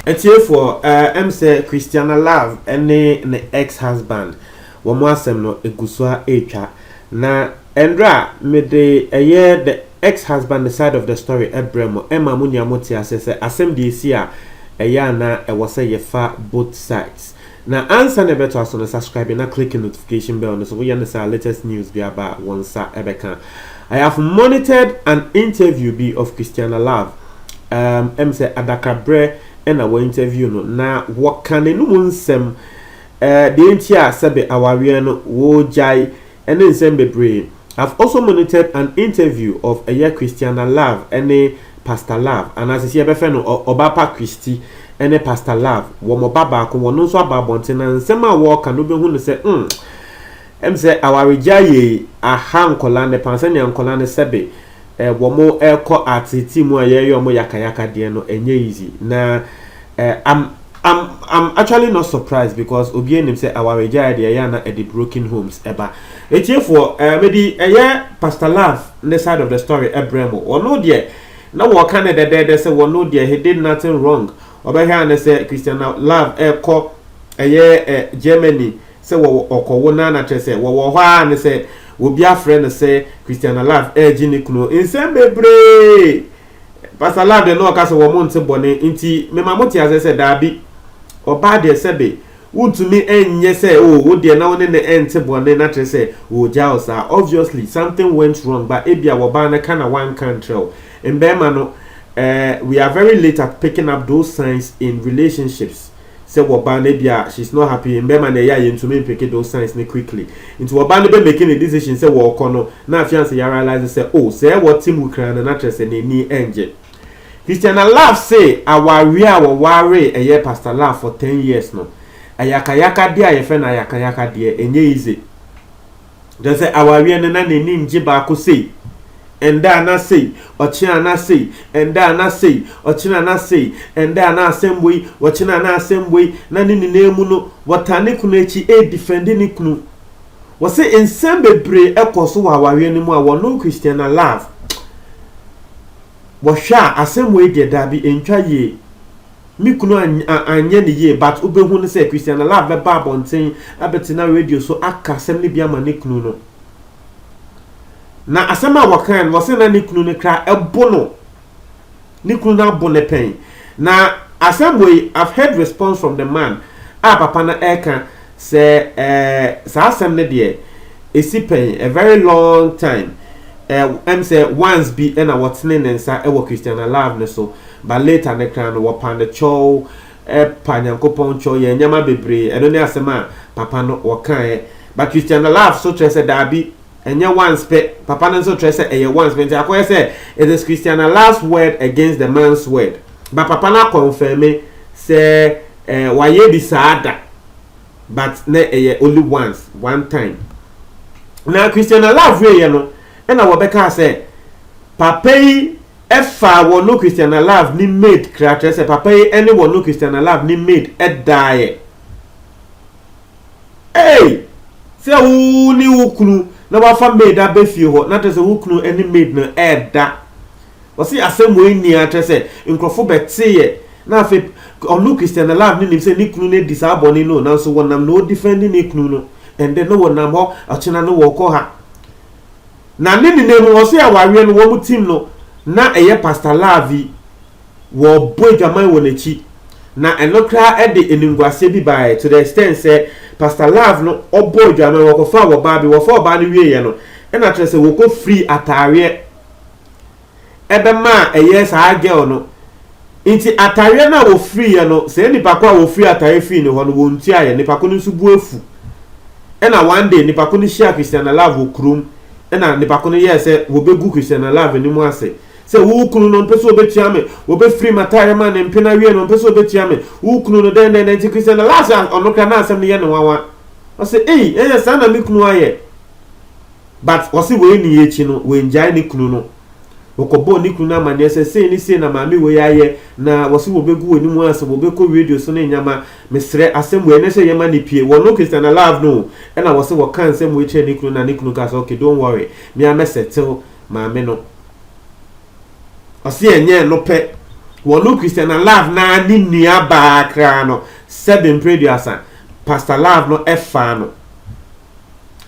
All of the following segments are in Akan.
atiefoɔ ɛm sɛ christiana love ne ne ex husband wɔn asɛm no egu so a ɛretwa na ɛnra mede ɛyɛ the ex husband the side of the story ɛbrɛ mo ɛma mo nyinaa mo te aseɛ sɛ asɛm deɛ ɛsi a ɛyɛ ana ɛwɔ sɛ yɛfa both sides Na ansa na ɛbɛtoa so no subscribe na click notification bell no so woyɛ no saa latest news bi aba a wo nsa ɛbɛka. I have monitored an interview bi of Christiana Love um, ɛm sɛ adakrabrɛ ɛna wɔ interview no na wɔka n'anum nsɛm eh, deɛ nti a sɛbe awareɛ no wɔgyae ne nsɛm bebree I've also monitored an interview of ɛyɛ Christiana Love ne Pastor Love anaa sɛsi yɛbɛfɛ no Ɔbapa Christy ne Pastor Love wɔn ɔba baako wɔn nso aba abɔnten na nsɛm a wɔɔka no wobɛhu no sɛ mm ɛm sɛ awaregyae yei aha nkɔla ne paa sɛnea nkɔla no sɛbe Eh wɔrekɔ art team a yɛyɛ wɔn yakayaka deɛ no ɛnyɛ easy na eh I'm I'm I'm actually not surprised because obiara nim sɛ awaregyaeɛ deɛ ɛyɛ a na ɛde broken homes ɛba etiefoɔ eh mede ɛyɛ Pastor Love ne side of the story ɛbrɛ mo wɔno deɛ na wɔka ne dɛdɛɛdɛ sɛ wɔno deɛ he did nothing wrong ɔbɛhwɛ a ne sɛ Christiana Love ɛrekɔ ɛyɛ eh Germany sɛ wɔwɔ ɔkɔwo no ara na kyerɛ sɛ wɔwɔ hɔ ara ne sɛ obi afrɛ no sɛ Christiana Love regye ne kunu. Nsɛm bebree! Pastor Love deɛ na ɔka sɛ wɔn nte bɔne nti mema mote aseɛ sɛ daabi, ɔbaa deɛ sɛbe wontumi nyɛ sɛ oh wo deɛ na wo ne no nte bɔne na kyerɛ sɛ ɔregyaa wo saa. Obviously something went wrong but ebia wɔbaa no ka na wanka nkyerɛ wo. Mmarima no, eh, we are very late at picking up those signs in relationships. sɛ wɔ ba no ebia she's not happy mbɛma na ɛyɛ a yɛntumi mpeke those signs no quickly nti wɔ ba no bɛ make ne decision sɛ wɔɔkɔ no na afianse yɛ realise sɛ oh sɛɛ wɔ te mu kraa no na kyerɛ sɛ n'ani ɛngye Christiana Love se awareɛ a wɔwaree ɛyɛ Pastor Love for ten years no ayakayakadeɛ a yɛfrɛ no ayakayakadeɛ ɛnyɛ easy. Kyerɛ sɛ awareɛ no na n'ani ngye baako sei, ɛnda a na sei, ɔkyena a na sei, ɛnda a na sei, ɔkyena a na sei, ɛnda a na asɛm wei, ɔkyena a na asɛm wei, na ne nyinaa mu no wɔtaa ne kunu akyi redefɛnde ne kunu. Wɔse nsɛm bebree ɛkɔ so wɔ awareɛ no mu a wɔnom Christiana love wɔhwɛ a asɛm wei deɛ daabi ɛntwa yie. Me kunu anyɛ no yie but wobɛhu no sɛ Christiana Love bɛba abɔnten abɛtena radio so aka asɛm no bi ama ne kunu no. Na asɛm a wɔkae no wɔsɛ na ne kunu no kra ɛbo no. Ne kunu no abo no pɛn. Na asɛm wei I've heard response from the man a papa no ɛka sɛ eh, saa asɛm no deɛ ɛsi pɛn a very long time eh, ɛm sɛ once bi ɛna wɔtene ne nsa ɛwɔ Christiana Love no so. But later no kra no wɔpaa no kyɔw eh pa Nyankopɔn kyɔw yɛn nyɛma bebree ɛno ne asɛm a papa no wɔkaa ɛ but Christiana love so kyerɛ sɛ daabi ɛnyɛ once pɛ papa no nso kyerɛ sɛ ɛyɛ once pɛ nti akɔyɛ sɛ it is Christiana love's word against the man's word but papa no akɔnfɛme sɛ eh wayɛ bi saa da but na ɛyɛ only once one time na Christiana love wieɛ no ɛna wɔbɛkaa sɛ papa yi Ɛfa Wɔno Christiana Love ne Maid kra kyerɛ sɛ papa yi ne Wɔno Christiana Love ne Maid daeɛ. Ei! Sɛ wo ne wo kunu na wafa maid abɛ fie hɔ na kyerɛ sɛ wo kunu ne maid no ɛɛda. Wɔse asɛm wei nni a kyerɛ sɛ nkurɔfo bɛteeɛ na afei Wɔno Christiana Love no nim sɛ ne kunu no adi saa bɔne no o nanso wɔnam na ɔdifɛndi ne kunu no ɛndɛ na wɔnam hɔ ɔkyena no wɔkɔ ha. Na ne nena mu ɔsɛ awareɛ no wɔn team no na ɛyɛ Pastor Larvy wɔbɔ adwaman wɔ nakyi na ɛno koraa ɛde animguaseɛ bi baeɛ to the extent sɛ Pastor Larve no ɔbɔ adwaman wɔkɔfaa wɔbaa bi wɔfa ɔbaa no wieɛ no ɛna kyerɛ sɛ wɔkɔ free ataareɛ ɛbɛma a ɛyɛɛ saa girl no nti atareɛ no a wɔfiriiɛ no sɛ nipa ko a wɔfiri atareɛ fii ne hɔ no wɔntuaeɛ nipa ko no nso bu afu ɛna one day nipa ko no hyia Christiana Love wɔ kurom ɛna nipa ko no yɛɛ sɛ wɔbɛgu Christiana Love anim ase sɛ wo kunu no mpɛ sɛ wɔbɛtua me wɔbɛfiri m atareɛ ma ne mpena awie no mpɛ sɛ wɔbɛtua me wo kunu no dɛn dɛn dɛn nti Christiana Love sɛ ɔno kora na asɛm no yɛ ne nwanwa ɔsɛ ei ɛyɛ saa na me kunu ayɛ But ɔse wei nii akyi no wangyae ne kunu no. Wɔkɔbɔɔ ne kunu no amaneɛ sɛ sei ne sei na maame wei ayɛ na wɔse wɔbɛgu w'anim ase wɔbɛkɔ radio so ne nneɛma. Mesrɛ asɛm wei ɛnɛ sɛ yɛma no pue. Wɔno Christiana Love no o. Ɛna wɔse wɔkaa nsɛm wei kyerɛɛ ne kunu na ne kunu kaa sɛ ok don't worry me ara mɛ settle maame no. Ɔse ɛnyɛ ɛno pɛ wɔno Christiana Love no ara ne nuabaa koraa no sɛbe mprɛduasa Pastor Love no ɛfaa no.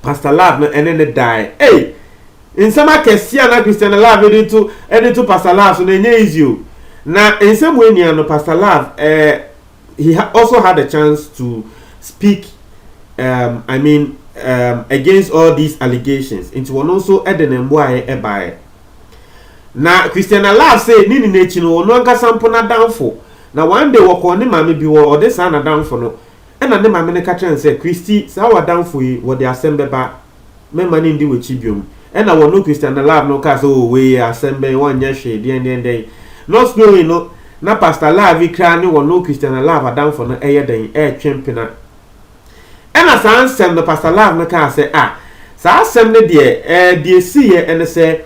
Pastor Love no ɛne no dae ei nsɛm akɛseɛ a na Christiana Love de to de to Pastor Love so no ɛnyɛ easy o na nsɛm wei nua no Pastor Love eh, he also had a chance to speak um, I mean um, against all these allegations nti wɔn nso de ne mboaeɛ ɛbaeɛ na Christiana Love sɛ ne nyinaa akyi no wɔn ankasa mpo n'adamfo na one day wɔkɔɔ ne maame bi wɔ ɔde saa n'adamfo no Ɛnna ne maame no ka kyerɛɛ no sɛ, Christy, saa w'adamfo yi, wɔde asɛm bɛba. Meremma no nni w'akyi biom. Ɛnna wɔne Christian ne Lav no kaa sɛ, Oo, wei, asɛm bɛn, wɔnyɛ hwee, deɛn, deɛn, deɛn. Not knowing no, na Pastor Lav yi koraa ne wɔne Christian ne Lav adamfo no reyɛ dɛn, retwe mpena. Ɛnna saa nsɛm no, Pastor Lav no kaa sɛ, Ah, saa asɛm no deɛ, eh, deɛ ɛsiiɛ ne sɛ,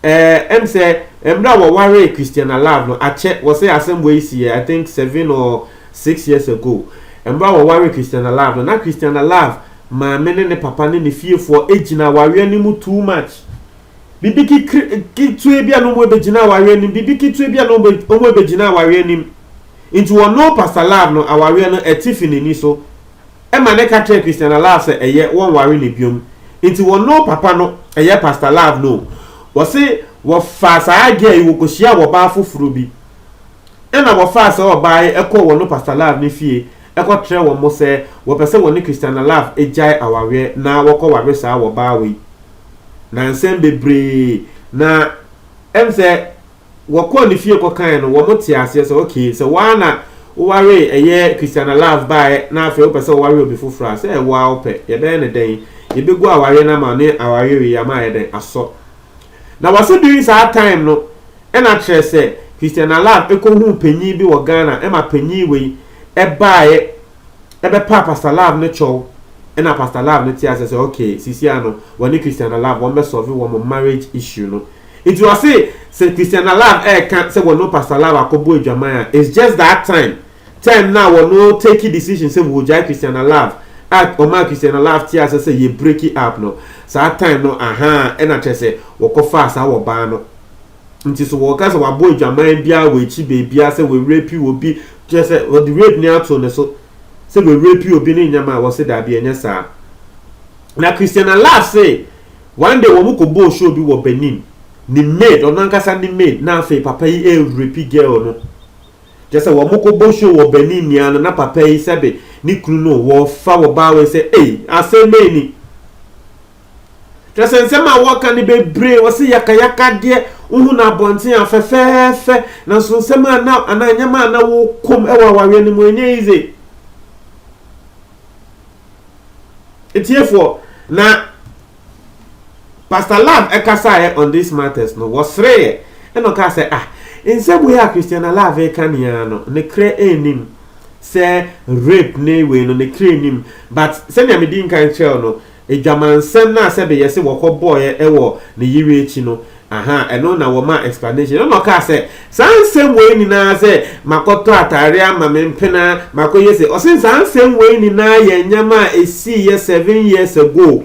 eh, ɛm sɛ, mmerɛ a wɔwaree Christian ne Lav no, akyɛ, wɔse asɛm wei siiɛ, I think seven or Six years ago, mmerɛ a wɔwaree Christiana Love no, na Christiana Love maame ne ne papa ne ne fiefoɔ gyina awareɛ no mu too much. Biribi kekre ketewa bi a na wɔbɛgyina awareɛ no mu, biribi ketewa bi a na wɔbɛgyina awareɛ no mu. Nti wɔno Pastor Love no, awareɛ no ɛte fi n'ani so. Ɛma no ka kyerɛɛ Christiana Love sɛ ɛyɛ wɔnware no biom. Nti wɔno papa no, ɛyɛ Pastor Love no o, wɔse wɔfaa saa girl yi wɔkɔhyiaa ɔbaa foforɔ bi. Ɛnna wɔfaa saa ɔbaa yi kɔɔ wɔn Pastor Love ne fie kɔtrɛɛ wɔn mo sɛ wɔpɛ sɛ wɔne Christiana Love gyae awareɛ na wɔkɔware saa wɔbaa wei. Na nsɛm bebree, na ɛm sɛ wɔkɔɔ ne fie kɔkaeɛ no, wɔn tee aseɛ sɛ okay, sɛ wo ara na wowaree ɛyɛ Christiana Love baeɛ na afei wopɛ sɛ woware obi foforɔ a, sɛ ɛwɔ ara wopɛ, yɛbɛyɛ no dɛn? Yɛbɛgu awareɛ no ama wo ne awareɛ wei ama ayɛ dɛn? Asɔ. Na wɔse during saa time no ɛna kyerɛ sɛ Christian Alarm ɛkɔhuu panyin bi wɔ Ghana ɛma panyin wei ɛbaeɛ ɛbɛpaa Pastor Love no kyɛw ɛna Pastor Love no te aseɛ sɛ okay sesia no wɔne Christian Alarm wɔn bɛsɔve wɔn marriage issue no. Nti wɔse sɛ Christian Alarm ɛɛka sɛ wɔne Pastor Love akɔbɔ adwaman a it's just that time Time no a wɔ no takee decision sɛ wɔ gyae Christiana love a ɔmaa Christiana love tee ase sɛ yɛ breaki up no saa time no ahaa ɛna kyerɛ sɛ wɔ kɔ faa saa wɔ baa no nti so wɔ ka sɛ wabɔ adwaman biaa wɔ akyi baabiaa sɛ wɔ rapi wɔ bi kyerɛ sɛ wɔ de rape no ato ne so sɛ wɔ rapi wɔ bi ne nyɛma a wɔ se daabi ɛnyɛ saa na Christiana love se one day wɔ mo kɔ bɔɔ show bi wɔ Benin ne maid ɔno ankasa ne maid na afei papa yi ɛɛ rapi girl no. Kyerɛ sɛ wɔkɔbɔ show wɔ Benin ni ara no na papa yi sɛbe ne kunu no wɔfa wɔ baa wei sɛ ei asɛm bɛn ni? Kyerɛ sɛ nsɛm a wɔka no bebree wɔse yakayakadeɛ wohu no abɔnten a fɛfɛɛfɛ nanso nsɛm a na anaa nneɛma a na wɔkɔm wɔ awareɛ no mu ɛnyɛ easy. Etiefoɔ na Pastor Lam kasaeɛ on these matters no, wɔsereeɛ ɛna ɔkaa sɛ, ah, nsɛm wei a Christiana Love reka ne ara no, ne kra nnim sɛ rape ne wei no, ne kra nnim. But sɛnea medi nkan kyerɛw no, adwamansɛm no a sɛbe yɛse wɔkɔbɔeɛ wɔ ne yere akyi no, Ahaa ɛno na wɔmaa explanation ɛna ɔkaa sɛ saa nsɛm wei nyinaa sɛ makɔtɔ ataareɛ ama me mpena makɔyɛ sei ɔse saa nsɛm wei nyinaa yɛ nneɛma a ɛsiiyɛ seven years ago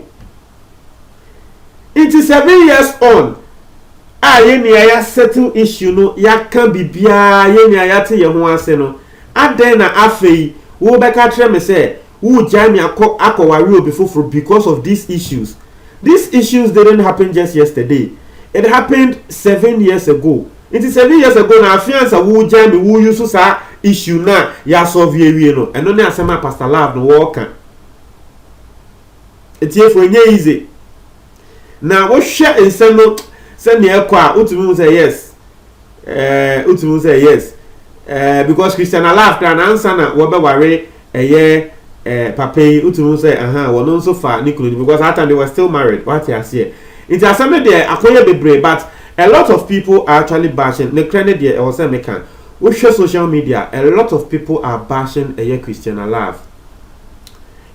nti seven years on a yɛnni a yɛasettle issue no yɛaka biribiara yɛnni a yɛate yɛn ho ase no adɛn na afei wobɛka kyerɛ me sɛ Woo gyae me akɔ akɔ ware obi foforo because of these issues These issues didn't happen just yesterday it happened seven years ago Nti seven years ago no afe ansa woo gyae me woo use saa issue no a yɛ asɔlve awie no ɛno ne asɛm a Pastor Love no wɔɔka Atiefo ɛnyɛ easy Na wohwɛ nsɛm no sɛnea ɛkɔ a, wotumi hu sɛ yes. Eh, wotumi hu sɛ yes. Eh, because Christian Alaf kra na ansa na wɔbɛware ɛyɛ eh, papa yi, wotumi hu sɛ aha, wɔn nso fa ne kunu because that time they were still married. Wate aseɛ. Nti asɛm no deɛ akɔyɛ bebree but a lot of people are actually bashing. Ne korɛ ne deɛ ɛwɔ sɛ meka. Wohwɛ social media, a lot of people are bashing ɛyɛ Christian Alaf.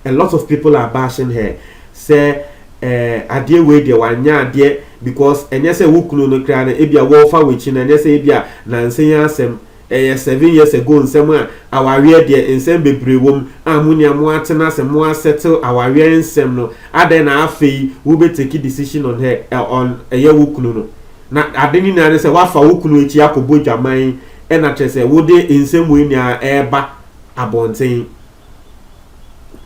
A lot of people are bashing her. Sɛ Eh adeɛ wei deɛ wanyɛ adeɛ because ɛnyɛ sɛ wo kunu no koraa no ebia wɔɔfa w'akyi no ɛnyɛ sɛ ebia nansa yi asɛm ɛyɛ seven years ago nsɛm a awareɛ deɛ nsɛm bebree wɔ mu a mo nua mo atena ase mo a settle awareɛ nsɛm no adɛn na afei wo bɛ take decision on her eh, on ɛyɛ wo kunu no na ade ne nyinaa ne sɛ wafa wo kunu akyi akɔbɔ dwaman ɛna kyerɛ sɛ wode nsɛm wei nyinaa ɛɛba abɔnten.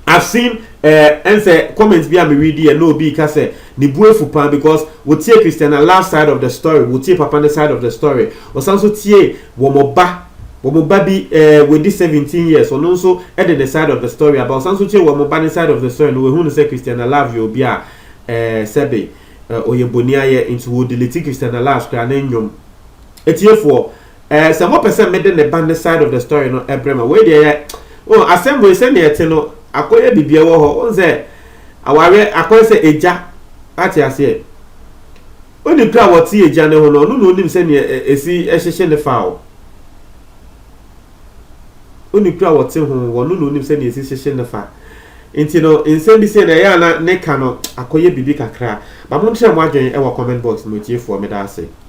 I've seen eh, ɛnsɛ comment bi a me read yɛ na obi ka sɛ ne bu afu paa because wotie Christiana love side of the story, wotie papa ne side of the story, ɔsan nso tie wɔn ba wɔn ba bi eh, wadi 17 years ɔno nso de ne side of the story aba, ɔsan nso tie wɔn ba ne side of the story na wahu no sɛ Christiana love yɛ obi a eh, sɛbe eh, ɔyɛ boni ayɛ nti wɔdelete Christiana love koraa ne nnwom. Atiefoɔ. Eh, sɛ mopɛ sɛ mede ne ba ne side of the story no ɛbrɛ ma wei deɛ yɛ oh, asɛm wei sɛnea ɛte no akɔyɛ bibia wɔ hɔ wohu sɛ awareɛ akɔyɛ sɛ agya ate aseɛ woni kura wɔte agya ne ho no ɔno na onim sɛnea ɛsi ɛhyehye ne fa o woni kura wɔte ho wɔno na onim sɛnea ɛsi hyehye ne fa nti no nsɛm bi sɛ na ɛyɛ ana ne ka no akɔyɛ bibi kakra ba mo nkyerɛ mo adwene ɛwɔ comment box no tiefoɔ meda ase